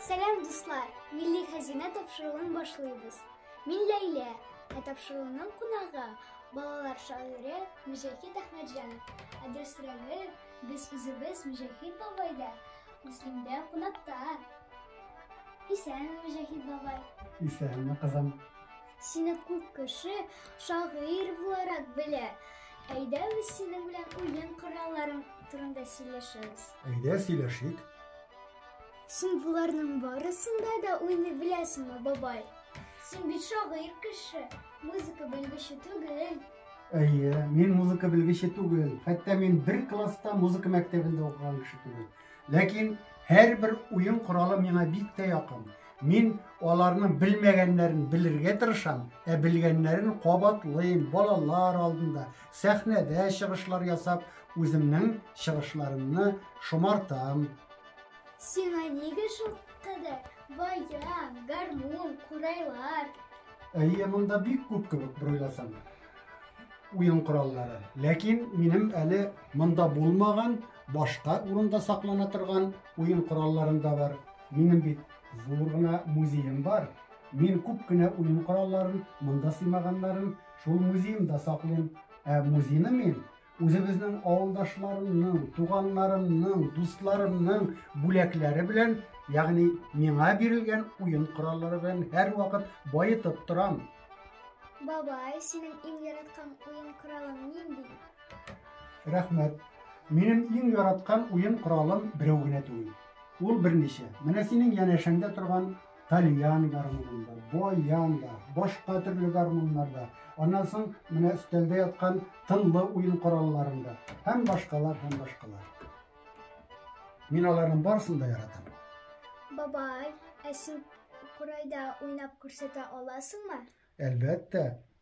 Сәлам, дуслар! Милли хәзинә тапшыруын башлыйбыз. Мин Ләйлә, ә тапшыруның кунагы балалар шагыйре Мөҗәхид Әхмәтҗанов. Ә дөресрәге, без үзебез Мөҗәхид бабайда, Муслимдә кунакта. Исән, Мөҗәхид бабай. Исәнме, кызым. Сине күп кеше шагыйрь буларак белә. Әйдә без синең белән уен коралларың турында сөйләшәбез. Әйдә сөйләшик. Син боларның барысында да уйный беләсеңме, бабай? Син бит шагыйрь кеше, музыка белгече түгел. Әйе, мин музыка белгече түгел. Хәтта мин бер класста музыка мәктәбендә укыган кеше түгел. Ләкин һәрбер уен коралы миңа бик тә якын. Мин аларның белмәгәннәрен белергә тырышам, ә белгәннәрен кабатлыйм, балалар алдында, сәхнәдә чыгышлар ясап, үземнең чыгышларымны шомартам. Сиңа нигә шул кадәр баян, гармун, курайлар? Әйе, монда бик күп кебек бер уйласаң уен кораллары. Ләкин минем әле монда булмаган Башка урында саклана торган уен коралларым да бар. Минем бит зур гына музеем бар. Мин күп кенә уен коралларын, монда сыймаганнарын шул музеемда саклыйм. Ә музейны мин үзебезнең авылдашларымның, туганнарымның, дусларымның бүләкләре белән, ягъни миңа бирелгән уен кораллары белән һәрвакыт баетып торам. Бабай, синең иң яраткан уен коралың нинди? Рәхмәт. Минем иң яраткан уен коралым берәү генә түгел. Ул берничә. Менә синең янәшәңдә торган тальян гармунын да, баян да, башка төрле гармуннар да, аннан соң менә өстәлдә яткан тынлы уен коралларын да һәм башкалар, һәм башкалар. Мин аларның барысын да яратам. Бабай, ә син курайда уйнап күрсәтә аласыңмы? Әлбәттә.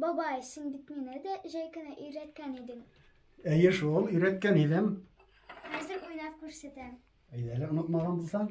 Бабай, син бит мине дә җәй көне өйрәткән идең. Әйе шул, өйрәткән идем. Хәзер уйнап күрсәтәм. Әйдә әле онытмаган булсаң.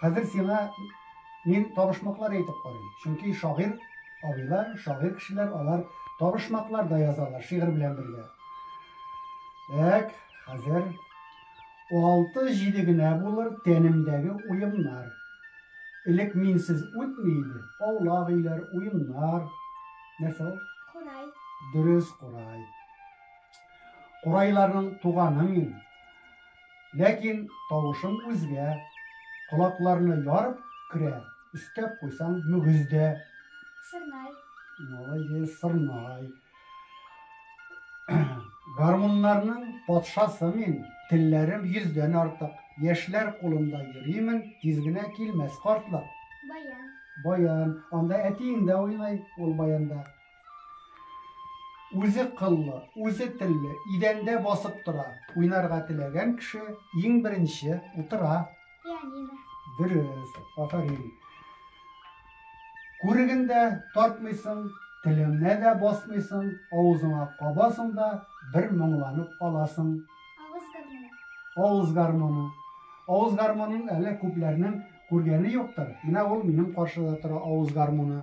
Хәзер сиңа мин табышмаклар әйтеп карыйм. Чөнки шагыйр абыйлар, шагыйр кешеләр алар табышмаклар да язалар шигырь белән бергә. Так, хәзер 6-7 генә булыр тәнемдәге уемнар. Элек минсез үтми иде. Аулак өйләр, уемнар. Нәрсә ул? Курай. Дөрес, курай. Курайларның туганы мин. Ләкин тавышың үзгә. Колакларны ярып керә, өстәп куйсаң, мөгез дә. Сырнай. Молодец, сырнай. Гармуннарның патшасы мин, телләрем йөздән артык. Яшьләр кулында йөримен, тиз генә килмәс картлык. Баян. Баян. Анда әтиең дә уйный ул баянда. Үзе кыллы, үзе телле, идәндә басып тора. Уйнарга теләгән кеше иң беренче утыра. Пианино. Дөрес, афәрин. Күреген дә тартмыйсың, телеңне дә басмыйсың, авызыңа кабасың да бер моңланып аласың. Авыз гармоны. Авыз гармоны. Авыз гармонын әле күпләрнең күргәне юктыр. Менә ул минем каршыда тора авыз гармоны.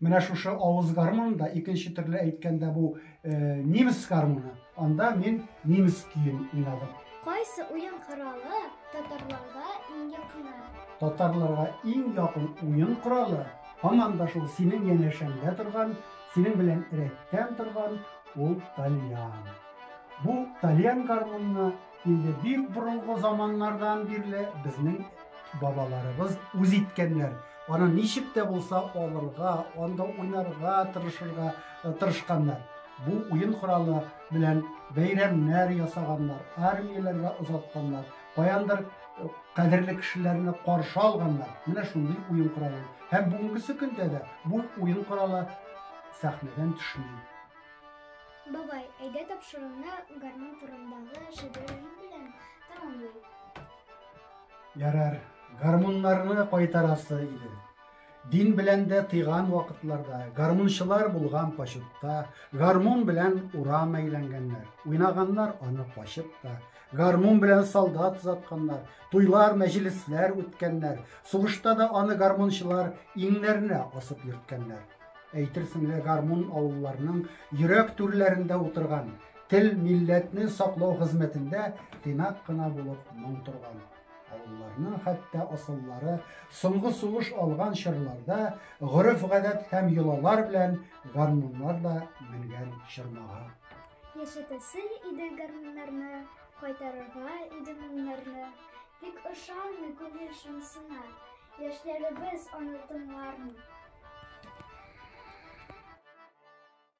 Менә шушы авыз гармун да, икенче төрле әйткәндә бу немец гармуны, анда мин немец көен уйнадым. Кайсы уен коралы татарларга иң якын? Татарларга иң якын уен коралы һаман да шул синең янәшәңдә торган, синең белән рәттән торган ул тальян. Бу тальян гармунны Инде бик борынгы заманнардан бирле безнең бабаларыбыз үз иткәннәр. Аны ничек тә булса алырга, анда уйнарга тырышырга э, тырышканнар. Бу уен коралы белән бәйрәмнәр ясаганнар, армияләргә озатканнар, каяндыр э, кадерле кешеләрне каршы алганнар. Менә шундый уен коралы. Һәм бүгенге көндә дә бу уен коралы сәхнәдән төшми. Бабай, әйдә тапшыруны гармун турындагы шигырем белән тәмамлыйк. Ярар, гармуннарны кайтарасы иде. Дин белән дә тыйган вакытларда, гармунчылар булган почетта, гармун белән урам әйләнгәннәр. Уйнаганнар аны качып та, гармун белән солдат озатканнар, туйлар, мәҗлесләр үткәннәр. Сугышта да аны гармунчылар иңнәренә асып йөрткәннәр. Әйтерсең лә гармун авылларның йөрәк түрләрендә утырган, тел, милләтне саклау хезмәтендә тыйнак кына булып моң торган. Авылларның хәтта асыллары соңгы сулыш алган чорларда гореф-гадәт һәм йолалар белән гармуннар да менгән чормага. Яшәтәсе иде гармуннарны, кайтарырга иде моңнарны, тик ошамый күңел шомсына, Яшьләребез аны тыңлармы?